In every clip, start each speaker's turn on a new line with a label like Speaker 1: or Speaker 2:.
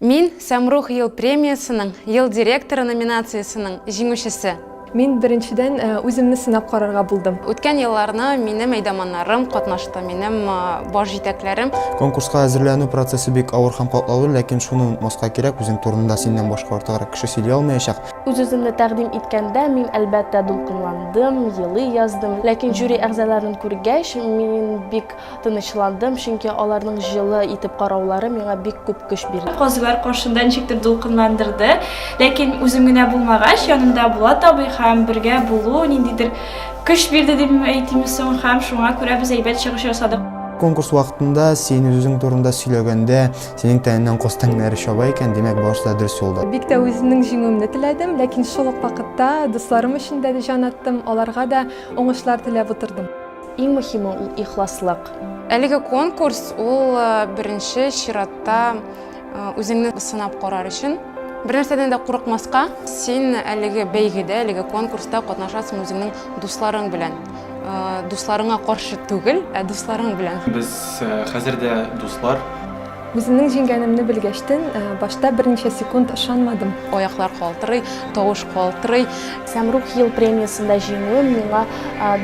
Speaker 1: Мин, Сәмрух ел премиясенең Ел директоры номинациясенең җиңүчесе. Мин, беренчедән, үземне сынап карарга булдым. Үткән елларны минем әйдаманнарым катнашты, минем баш җитәкләрем. Конкурска әзерләнү процессы бик авыр һәм катлаулы, ләкин шуны онытмаска кирәк, үзең турында синнән башка артыграк кеше сөйли алмаячак. Үз-үземне тәкъдим иткәндә, мин, әлбәттә, дулкынландым, елый яздым. Ләкин жюри әгъзаларын күргәч, мин бик Тынычландым, чөнки аларның җылы итеп караулары миңа бик күп көч бирде. Казыйлар каршында ничектер дулкынландырды. Ләкин үзем генә булмагач, янымда Булат абый һәм бергә булу ниндидер көч бирде дип әйтимме соң, һәм шуңа күрә без әйбәт чыгыш ясадык. Конкурс вакытында син үзең турында сөйләгәндә, синең тәнеңнән каз тәңнәре чаба икән, димәк, барысы да дөрес юлда. Бик тә үземнең җиңүемне теләдем, ләкин шул ук вакытта дусларым өчен дә җан аттым, аларга да уңышлар теләп утырдым. Иң мөһиме ул ихласлык. Әлеге конкурс ул беренче чиратта үзеңне сынап карар өчен Бер нәрсәдән дә курыкмаска, син әлеге бәйгедә, әлеге конкурста катнашасың үзеңнең дусларың белән. Э, дусларыңа каршы түгел, ә дусларың белән. Без э, хәзер дә дуслар. Үземнең җиңгәнемне белгәчтен, башта берничә секунд ышанмадым. Аяклар калтырый, тавыш калтырый. Сәмрух ел премиясендә җиңүем миңа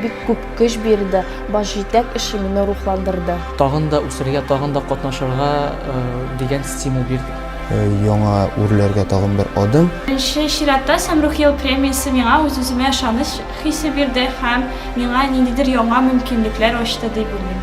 Speaker 1: бик күп көч бирде, баш җитәк эше мине рухландырды. Тагын да үсәргә, тагын да катнашырга дигән стимул бирде. Яңа үрләргә тагын бер адым. Беренче чиратта Сәмрух ел премиясе миңа үз-үземә ышаныч хисе бирде һәм миңа ниндидер яңа мөмкинлекләр ачты дип уйлыйм.